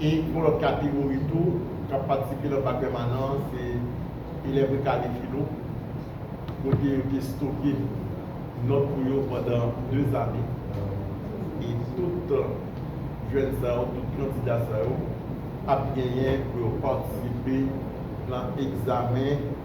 E yon lòt kategori tou k ap patisipe nan bak pèmanan an se elèv rekade filo kote yo te stoke nòt pou yo pandan de ane. E tout jèn sa yo, tout kandida sa yo ap genyen pou yo patisipe nan egzamen.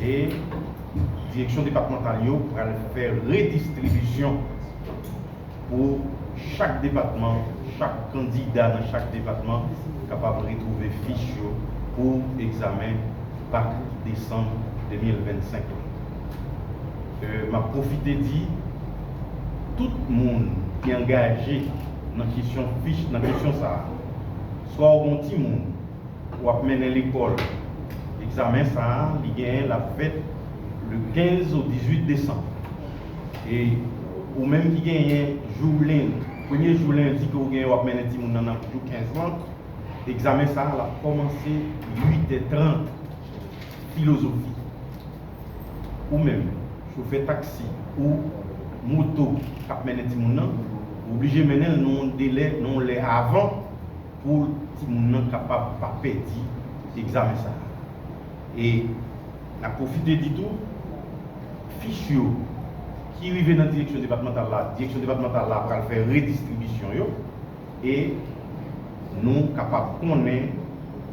e direksyon depatmantal yo pral fè redistribisyon pou chak depatman, chak kandida nan chak depatman kapab retwouve fich yo pou egzamen bak desanm 2025 lan. E m ap pwofite di tout moun ki angaje nan kesyon fich, nan kesyon sa a, swa ou gen yon timoun, w ap mennen lekòl. Egzamen sa a li genyen l ap fèt le 15 au 18 desanm. E ou menm ki genyen jou lendi, premye jou lendi ke ou genyen w ap mennen timoun nan nan jou 15 lan, egzamen sa a l ap kòmanse 8 è 30. Filozofi, Ou menm chofè taksi ou moto k ap mennen timoun nan, ou oblije mennen l nan yon delè, nan yon lè avan. pou timoun nan kapab pa pèdi egzamen sa a. E n ap pwofite di tou, fich yo ki rive nan direksyon depatmantal la, direksyon depatmantal la pral fè redistribisyon yo e nou kapab konnen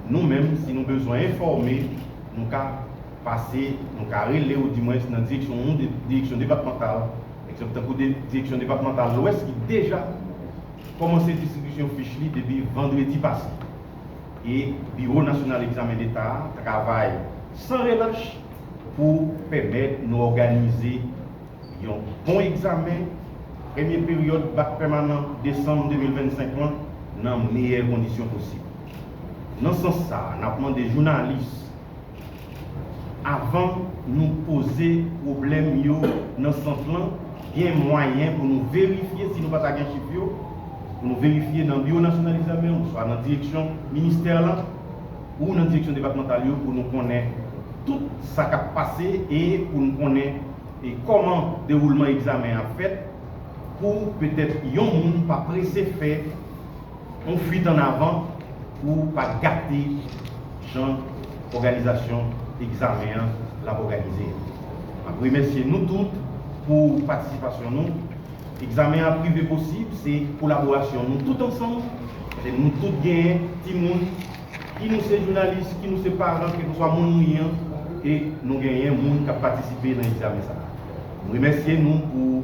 nou menm, si nou bezwen enfòme, nou ka pase, nou ka rele ou di mwens nan direksyon yon direksyon depatmantal, ekzanp tankou direksyon depatmantal lwès ki deja. kòmanse distribisyon fich li depi vandredi pase e Biwo Nasyonal Egzamen Leta a travay san relach pou pèmèt nou òganize yon bon egzamen premye peryòd bak pèmanan desanm 2025 lan nan meyè kondisyon posib. Nan sans sa a, n ap mande jounalis. Avan nou poze pwoblèm yo nan sant lan, gen mwayen pou nou verifye, si nou pa ta gen chif yo, pou nou verifye nan Biwo Nasyonal Egzamen oswa nan direksyon ministè lan ou nan direksyon depatmantal yo pou nou konnen tout sa k ap pase e pou nou konnen kòman dewoulman egzamen an ap fèt pou petèt yon moun pa prese fè On fuit an avan pou pa gate jan òganizasyon egzamen an l ap òganize a. M ap remèsye nou tout pou patisipasyon nou. Egzamen an ap rive posib se kolaborasyon nou tout ansanm, paske nou tout gen timoun, ki nou se jounalis, ki nou se paran, kèlkeswa moun nou ye an, e nou genyen moun k ap patisipe nan egzamen sa a. M remèsye nou pou.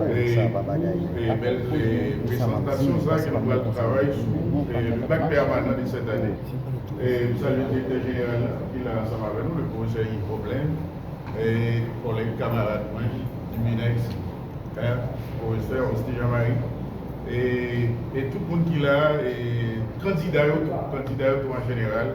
Hey pou bèl prezantasyon sa ke nou pral travay sou le bac permanent de cette année. M salye Direktè Jeneral la ki la ansanm avè nou, le Profesè Yves Poplin, kòlèg kamarad mwen du Minex, Profesè Austin Jean Marie e tout moun ki la, kandida yo tou, kandida yo tou an jeneral.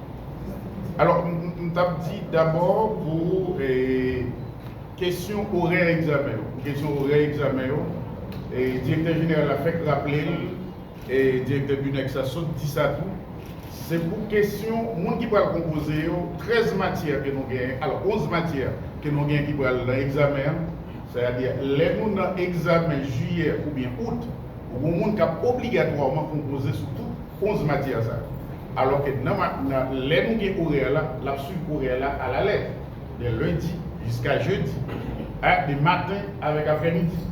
Alò, m t ap di dabò pou kesyon orè egzamen yo. Pou kesyon orè egzamen yo, direktè jeneral la fèk raple l, direktè BUNEX la sot di sa tou, se pou kesyon moun ki pral konpoze yo, 13 matyè ke nou genyen, alò 11 matyè ke nou genyen ki pral nan egzamen an, sè a di lè nou nan egzamen jiyè oubyen out, ou gen moun k ap obligatwaman konpoze sou tout 11 matyè sa yo. Alò ke nan ma, nan, lè nou gen orè la, l ap swiv orè la a la lèt. De lendi jiska jedi. A, de maten avèk aprèmidi.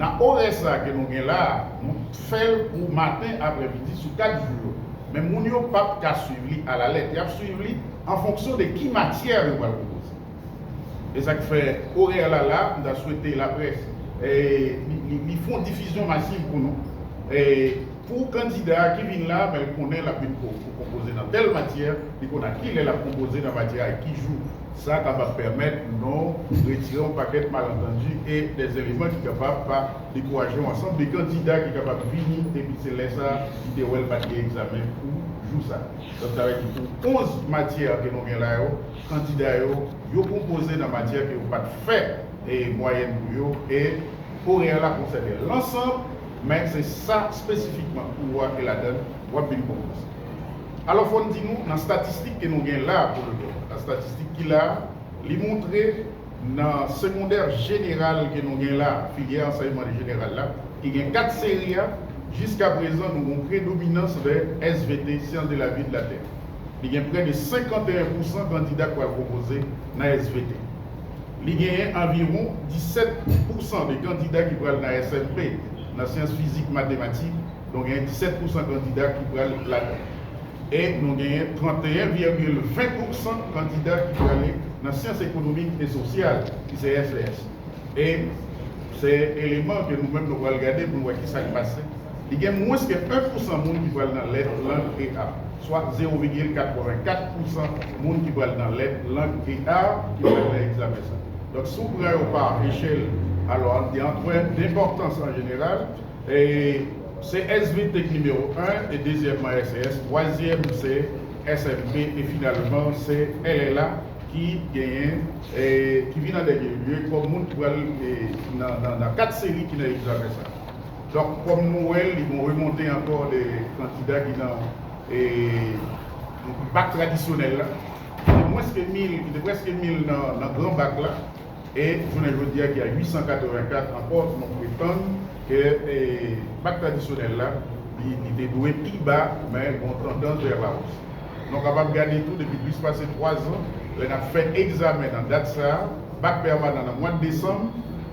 Nan orè sa a ke nou gen la a, nou fè l pou maten, aprèmidi, sou kat jou yo. Men moun yo p ap ka swiv li a la lèt. Y ap swiv li an fonksyon de ki matyè yo pral pwopoze. Esak fè orè la la, m ta swete laprès li fon difizyon masiv pou nou. Pou kandida ki vin la, men l konnen lap vin konpoze nan tèl matyè, li konn a kilè lap konpoze nan matyè a e ki jou. Sa kapab pèmèt nou retire yon pakèt malantandi e dè eleman ki kapab pa dekouraje yon ansanm de kandida ki kapab vini epi se lè sa li te wè l pat gen egzamen pou jou sa. Donk sa vle di pou 11 matyè ke nou gen la yo, kandida yo, yo konpoze nan matyè ke yo pa t fè mwayèn pou yo e orè la konsène lansanb, men se sa spesifikman kou a ke ladan l w ap vin konpoze. Alò fò n di nou nan statistik ke nou gen la a pou lmè a, statistik ki la a, li montre nan segondè jeneral ke nou gen la a, filyè ansèyman jeneral la, ki gen 4 seri a, jiskaprezan nou gen yon predominans vè svt, Sciences de la vie et de la terre. Li gen pre de 51 pousan kandida k pral pwopoze nan svp. Li genyen anviwon 17 pousan de kandida ki pral nan smp, nan syans fizik matematik, don genyen 17 pousan kandida ki pral ladan. E nou genyen 31 vègil 20 pousan kandida ki prale nan syans ekonomik e sosyal, ki se svs. E se eleman ke nou menm nou pral gade pou nou wè ki sa k pase. li gen mwens ke 1 pousan moun ki pral nan lèt lang EA, swa 0,84 pousan moun ki pral nan lèt lang EA ki pral nan egzamen sa. Donk, si w pran yo pa echèl, alò an di an tèm denpòtans an jeneral, se svp ki nimewo 1, e dezyèmman SES, twazyèm se SMT, e finalman se LLA ki genyen, ki vin an dènye lye kòm moun ki pral nan 4 seri ki nan egzamen sa. Donk kòm nou wè li gon remonte ankò de kandida ki nan bak tradisyonèl la, ki te mwens ke 1000, ki te prèske 1000 nan gran bak la, e jounen jodi a ki a 884 ankò nou pretann ke bak tradisyonèl la li te dwe pi ba men gon tandans vè la ous. Nou kapab gade tou depi plis pase 3 zan lè n ap fè egzamen nan dat sa a, bak pèmanan nan mwad desanm,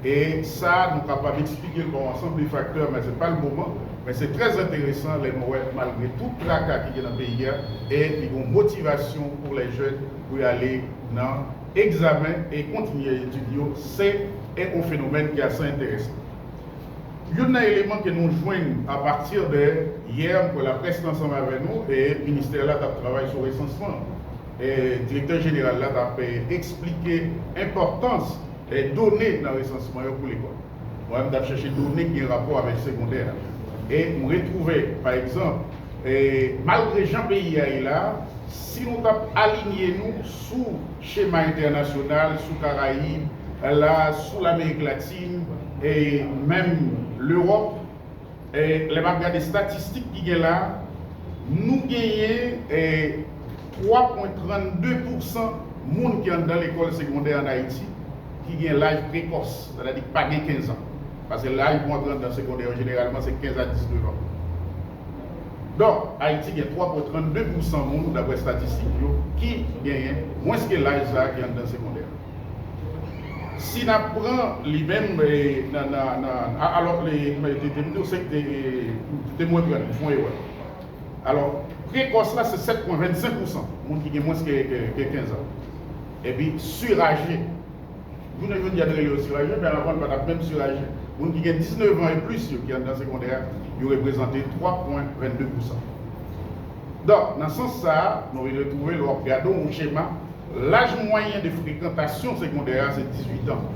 E sa nou kapab eksplike l pa yon ansanm de faktè, men se pa l moman. Men se trè enteresan lè nou wè malgre tout traka ki gen nan peyi a, e li gen yon motivasyon pou lè jèn pou yo ale nan egzamen e kontinye etid yo, se yon fenomèn ki ase enteresan. Youn nan eleman ke nou jwenn a patir de yè, m kwè laprès te ansanm avè nou, e ministè la t ap travay sou resansman, e direktè jeneral la t ap eksplike enpòtans Done nan resansman yo pou lekòl. Mwen m t ap chèche done ki gen rapò avèk segondè a e m retwouve pa egzanp, malgre jan peyi a ye la, si nou t ap alinye nou sou chema entènasyonal, sou Karayib la, sou Lamerik Latin e menm Lewòp, lè map gade statistik ki gen la, nou genyen 3 pwen 32 pousan moun ki anndan lekòl segondè an Ayiti ki gen laj prekòs, sètadi ki pa gen 15 an. Paske laj pou antre anndan segondè yo jeneralman se 15 a 19 an. Donk, Ayiti gen 3 pwen 32 pousan moun, daprè statistik yo, ki genyen mwens ke laj sa a ki anndan segondè. Si n ap pran li menm nan alò li te di w se te mwen pran li, w fè yon erè. Alò, prekòs la se 7 pwen 25 pousan moun ki gen mwens ke 15 an. Epi suraje, jounen jodi a nou rele yo suraje men anvan l pa t ap menm suraje. Moun ki gen 19 an e plis yo ki anndan segondè a, yo reprezante 3 pwen 22 pousan. Donk, nan sans sa a, nou retwouve lè w ap gade yon chema, Laj mwayen de frekantasyon segondè a se 18 an.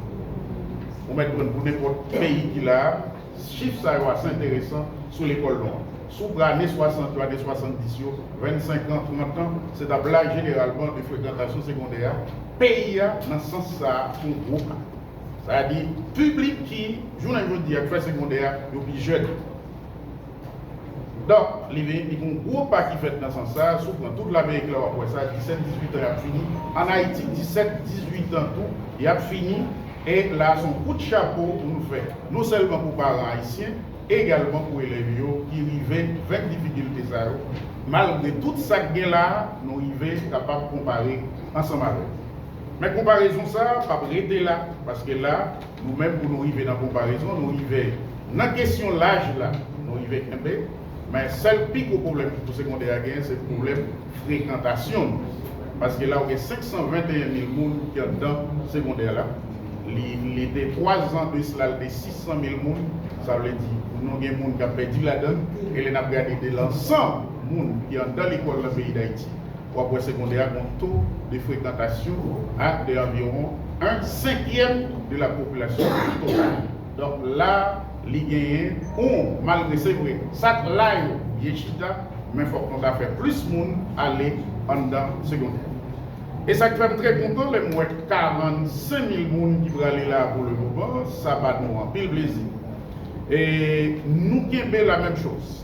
Ou mèt konn pou nenpòt peyi ki la a, chif sa yo ase enteresan sou lekòl nou an. Sou pra ane 60 yo, ane 70 yo, 25 an, 30 an, se t ap laj jeneralman de frekantasyon segondè a, peyi a nan sans sa a se yon gwo ka. Sa di, piblik ki, jounen jodi a, k fè segondè a, yo pi jèn. Dòk li vini di gon gwo pa ki fèt nan sans sa, si w pran tout Lamerik la w ap wè sa, 17, 18 an y ap fini, an Ayiti 17, 18 an tou y ap fini, e la a se yon kout chapo pou nou fè non sèlman pou paran ayisyen, egalman pou elèv yo ki rive venk difikilte sa yo, malgre tout sa k gen la a, nou rive kapab konpare ansanm avèk. Men konparezon sa a p ap rete la, paske la, Nou menm pou nou rive nan konparezon nou rive nan kesyon laj la nou rive kenbe men sèl pi gwo pwoblèm ki pou segondè a genyen se pwoblèm frekantasyon nou paske la ou gen 521 mil moun ki anndan segondè la li li te 3 zan de sla li te 600 mil moun sa vle di nou gen moun k ap pèdi ladann e lè n ap gade de lan 100 moun ki anndan lekòl nan peyi dayiti w ap wè segondè a gon to de frekantasyon a de anviwon 1 senkyèm de la popilasyon total. Donk la li genyen oun malgre se vre sa k la yo byen chita men fòk nou ta fè plis moun ale anndan segondè. E sa k fè m trè kontan lè m wè 45 mil moun ki prale la pou le moman sa ba nou anpil plezi e nou kenbe la menm choz.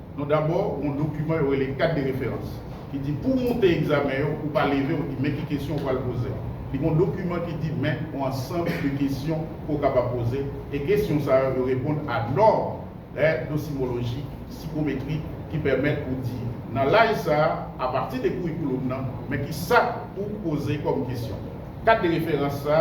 Nou dabò yon dokiman yo rele Kat de referans ki di pouw moute egzamen yo ou pa leve ou di men ki kesyon ou pral poze. Li gon dokiman ki di men on ansanb de kesyon ke w kapab poze e kesyon sa yo yo reponn a nòm è dosimolojik, sikometrik ki pèmèt pou di nan laj sa a pati de kourikouloum nan men ki sa pouw poze kòm kesyon. Kat de referans sa,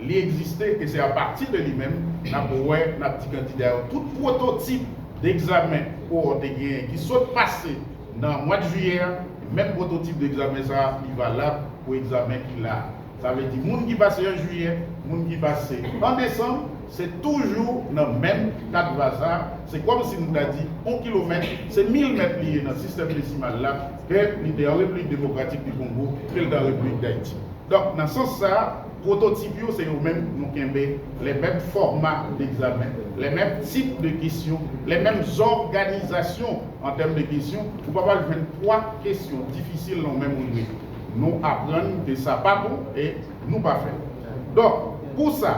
li egziste e se apati de li menm n ap wè, n ap di kandida yo tout pwototip de egzamen kowòt te genyen ki sot pase nan mwad jiyè a, menm pwototip de egzamen sa li valab pou egzamen ki la a. Sa vle di moun ki pase an jiyè, moun ki pase an desanm, se toujou nan menm kat vaza, se kòm si nou ta di on kilomèt se mil mèt li ye nan sistèm desimal la, Ke li te an Repiblik Demokratik di Kongo, ke l te an Repiblik Dayiti. Donk, nan sans sa a, pwototip yo se yo menm nou kenbe, lè menm fòma degzamen, lè menm tip de kesyon, lè menm zòganizasyon an tèm de kesyon, ou pa pral jwenn pwa kesyon difisil nan menm rive. Nou aprann ke sa pa bon e nou pa fè l. Donk, pou sa,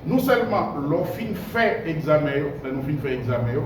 nou sèlman lè w fin fè egzamen yo, lè nou fin fè egzamen yo,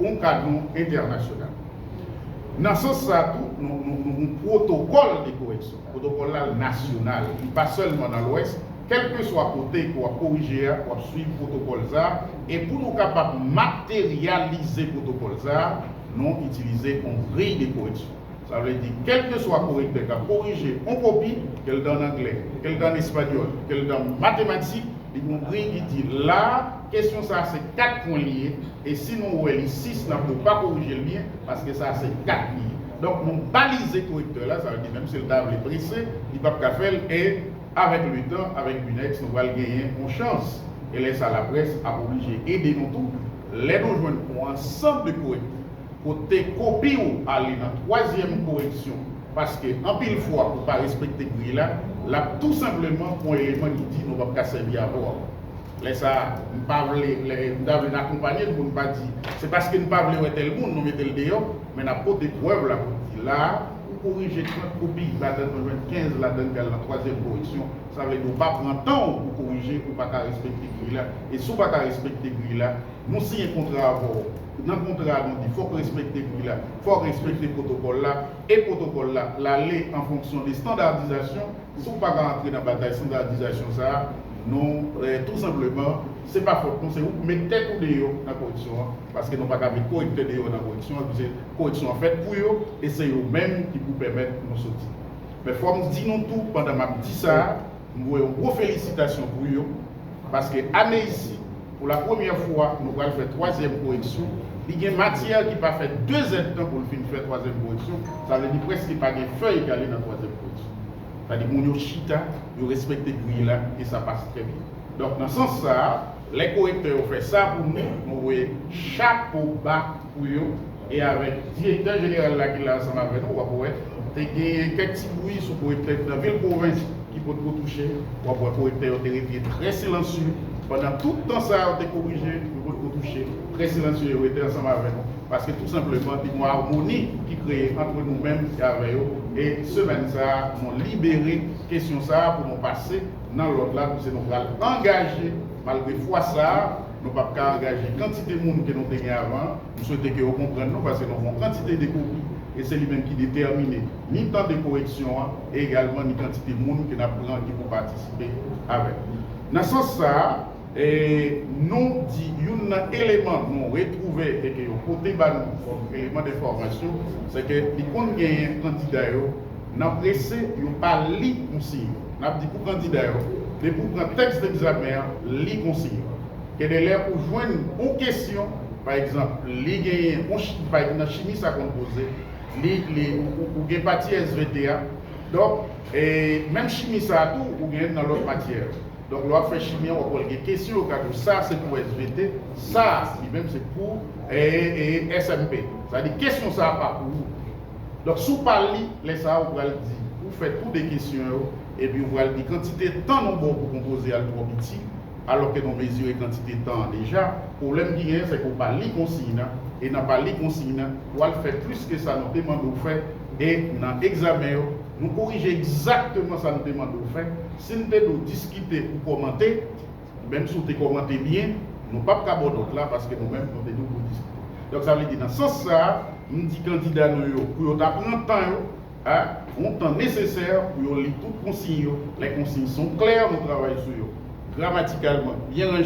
yon kadran entènasyonal. Nan sans sa a tou, nou gen yon pwotokòl de koreksyon. Pwotokòl la nasyonal, li pa sèlman nan Lwès. Kèlkeswa kote ke w ap korije a, w ap suiv pwotokòl sa a. E pou nou kapab materyalize pwotokòl sa a, nou itilize yon griy de koreksyon. Sa vle di, kèlkeswa korektè k ap korije on kopi, ke l te ann angle, ke l te ann espanyòl, ke l te ann matematik, li gen on briy ki di, la a, kesyon sa a se kat pwen li ye, e si nou wè li sis, n ap di w pa korije l byen, paske sa a se kat li ye. Donk, nou balize korektè la, sa vle di menm si l ta vle prese, li p ap ka fè l, e avèk letan, avèk Binex, nou pral genyen on chans. E lè sa a, laprès ap oblije ede nou tou, lè nou jwenn on ansanm de korektè. Pote kopi w ale nan twazyèm koreksyon paske anpil fwa ou pa respekte griy la, l ap tou senpleman pran eleman ki di nou p ap ka sèvi avè w ankò. Lè sa a, m pa vle lè m ta vle n akonpanye l pou n pa di se paske n pa vle wè tèl moun nou mete l deyò men n ap pote prèv la pou n di la a ou korije trant kopi ladann mwen jwenn kenz ladann ki al nan twazyèm koreksyon sa vle di w pa pran tan w pou korije ou pa ka respekte griy la e si w pa ka respekte griy la nou siyen kontra avè w nan kontra nou di fòk respekte pri la, fòk respekte pwotokòl la, e pwotokòl la lale an fonksyon de standardizasyon, si w pa ka antre nan batay standardizasyon sa a, nou tou senpleman, se pa fòt nou, se ou k met tèt ou deyò nan koreksyon an, paske nou pa ka met korektè deyò nan koreksyon an, pise koreksyon an fèt pou yo, e se yo menm ki pou pèmèt nou soti. Men fòk m di nou tou, pandan m ap di sa a. M voye yon gwo felisitasyon pou yo, paske ane isi, pou la premyè fwa, nou pral fè twazyèm koreksyon. Li gen matyè ki pa fè dezèdtan pou l fin fè twazyèm koreksyon, sa vle di prèske pa gen fèy ki ale nan twazyèm koreksyon. Sa di moun yo chita, yo respekte griy la, e sa pase trè byen. Donk, nan sans sa a. Lè korektè yo fè sa pou nou, mwen voye chapo ba pou yo e avèk direktè jeneral la ki la ansanm avè nou, w ap wè, te genyen kèk ti bwi sou korektè ki nan vil pwovens ki potko touche, w ap wè korektè yo te rete trè silansye pandan tout tan sa a, yo te korije, yo potko touche, trè silansye yo rete ansanm avè nou, paske tou senpleman te gen yon amoni ki kreye antre nou menm e avè yo e semèn sa a nou libere kesyon sa a pou nou pase. nan lòt la koze nou pral angaje malgre fwa sa nou pap ka angaje kantite moun ke nou te gen avan an, m swete ke ou konprann nou pase nou gon kantite de kopi e se li menm ki detèmine ni tan de koreksyon an e egalman ni kantite moun ke nap pran ki pou patisipe avèk nou nan sans sa a. E nou di youn nan eleman nou retwouve e ke yo pote ba nou kòm eleman denfòmasyon, se ke li konn genyen kandida yo nan prese yo pa li konsiy yo. N ap di pou kandida yo, depi ou pran tèks degzamen an, li konsiy yo. Gendelè ou jwenn on kesyon, pa egzanp, li genyen on chi, pa egzanp nan chimi sa konn poze, li, li, ou gen pati SVT a, donk, e menm chimi sa a tou ou genyen nan lòt matyè yo. Donk lè wap fè chimi an wap wèl gen kesyon yo ka di w sa se pou svt sa li menm se pou ee smp sa di kesyon sa pa pou ou donk si w pa li lè sa ou pral di ou fè tou 2 kesyon yo epi ou pral di kantite tan nou baw pou konpoze al twò piti alò ke nou mezire kantite tan an deja pwoblèm ki genyen sèke ou pa li konsiy nan e nan pa li konsiy nan wal fè plis ke sa nou te mande w fè e nan egzamen yo Nou korije egzakteman sa n te mande w fè. Si n te di w diskite ou kòmante, menm si w te kòmante byen, nou pap ka ba w nòt la paske nou menm nou te di w pou w diskite. Donk sa vle di nan sans sa a, m di kandida nou yo pou yo ta pran tan yo, a yon tan nesesè pou yo li tout konsiy yo. Lè konsiy son klè, nou travay sou yo gramatikalman byen ranje.